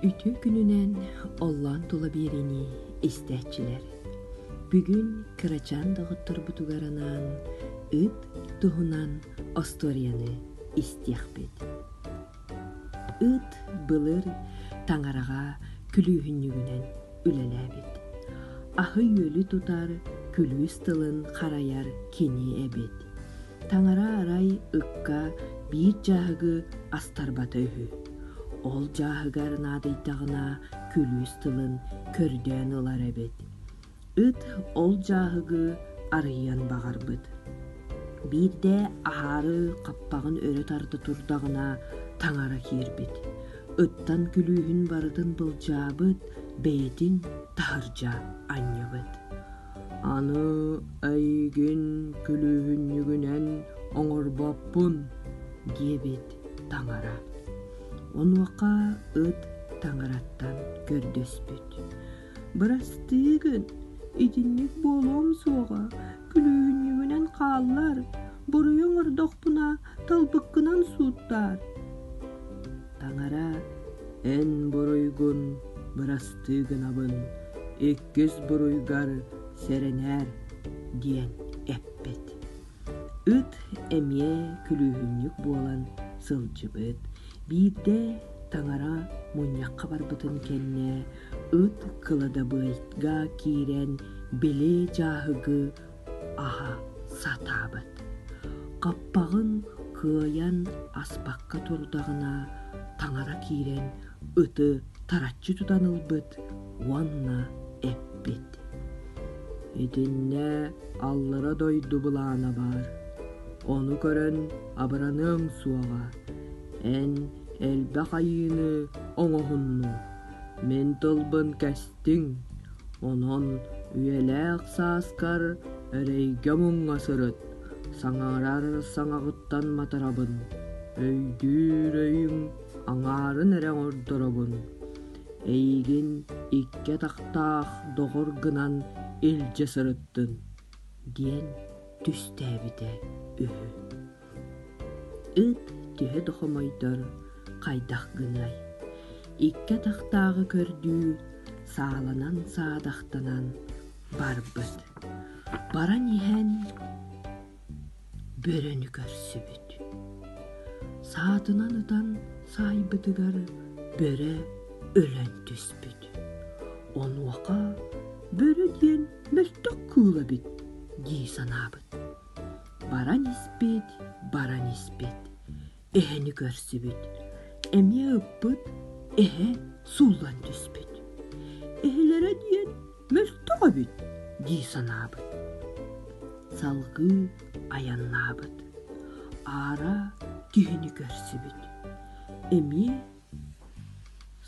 Үтүө күнүнэн оллоон тула биэриини истээччилэр. Бүгүн кырачаан доҕотторбутугар анаан ыт туһунан остуоруйаны истиэхпит. Ыт былыр таҥараҕа күлүүһүнньүгүнэн үлэлээбит. Аһы-үөлү тутар, күлүүс тылын харайар кини эбит. таҥара арай ыкка биир дьааһыгы астарбата үһү. Ол дьааһыгар наадыйдаҕына күлүүс тылын көрдөөн ылар эбит. Ыт ол дьааһыгы арыйан баҕарбыт. Биирдэ аһаары хаппаҕын өрө тарда турдаҕына таҥара киирбит. Ыттан күлүүһүн барытын былдьаабыт, бэйэтин таһырдьа анньыбыт. Аны эйигин күлүүһүнньүгүнэн оҥорбоппун, диэбит таҥара. Онуоха ыт таҥараттан көрдөспүт. Бырастыы гын, итинник буолуом суоҕа, күлүүһүнньүгүнэн хааллар, буруйу оҥордохпуна талбыккынан сууттаар. Таҥара эн буруйгун бырастыы гынабын, көс буруйгар сэрэнээр диэн эппит. Ыт эмиэ күлүүһүнньүк буолан сылдьыбыт. Биирдэ таҥара мунньахха барбытын кэннэ ыт кыладабыайга киирэн били дьааһыгы аһа сатаабыт. Хаппаҕын кыайан аспакка турдаҕына таҥара киирэн ыты тараччы тутан ылбыт уонна эппит. Итиннэ аллара дойду былаана баар. Ону көрөн абыраныаҥ суоҕа. Эн элбэх айыыны оҥоһунну. Мин тылбын кэстиҥ, онон үйэлээх сааскар эрэйгэ-муҥҥа сырыт, саҥарар саҥаҕыттан матарабын, өйдүүр өйүм аҥаарын эрэ ордоробун. Эйигин икки атахтаах доҕор гынан илдьэ сырыттын» диэн түстээбитэ үһү. Ыт төһө да хомойдор, хайдах гыной, икки атахтааҕы көрдүү сааланан саадахтанан барбыт. Баран иһэн бөрөнү көрсүбүт. Саатынан ытан саайбытыгар бөрө өлөн түспүт. Онуоха бөрө диэн мөлтөх кыыл эбит дии санаабыт. баран испит, баран испит, эһэни көрсүбүт, эмиэ ыппыт, эһэ сууллан түспүт. Эһэлэрэ диэн мөлтөх эбит дии санаабыт. Салгыы айаннаабыт. Аара киһини көрсүбүт. Эмиэ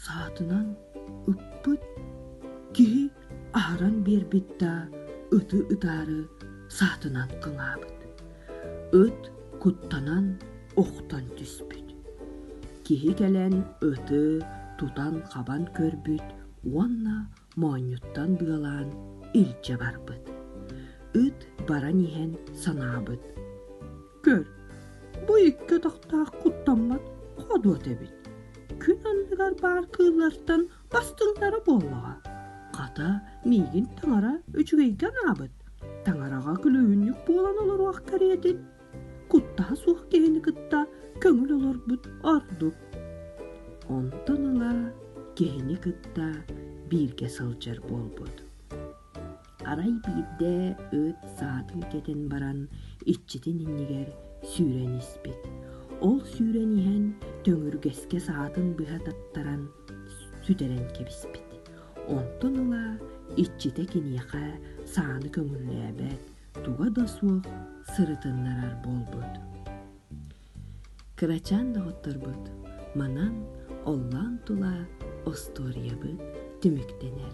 Саатынан ыппыт киһи аһаран биэрбит да ыты ытаары саатынан кылаабыт. Ыт куттанан охтон түспүт. Киһи кэлэн ыты тутан-хабан көрбүт уонна моонньуттан быалаан илдьэ барбыт. Ыт баран иһэн санаабыт. Көр, бу икки отохтоох куттаммат ходуот эбит. Күн анныгар баар кыыллартан бастыҥнара буоллаҕа. Хата, миигин таҥара үчүгэйгэ анаабыт. Таҥараҕа күлүһүннүк буолан олоруох кэриэтин куттаһа суох киһини кытта көҥүл олорбут ордук. Онтон ыла киһини кытта бииргэ сылдьар буолбут. Арай биирдэ өт саатын кэтэн баран иччитин иннигэр сүүрэн испит. Ол сүүрэн иһэн төҥүргэскэ саатын быһа таттаран сүтэрэн кэбиспит. Онтон ыла иччитэ киниэхэ сааны көҥүллээбэт, туга да суох сырытыннарар буолбут. Кырачаан доҕотторбут манан оллаан тула остуоруйабыт түмүктэнэр.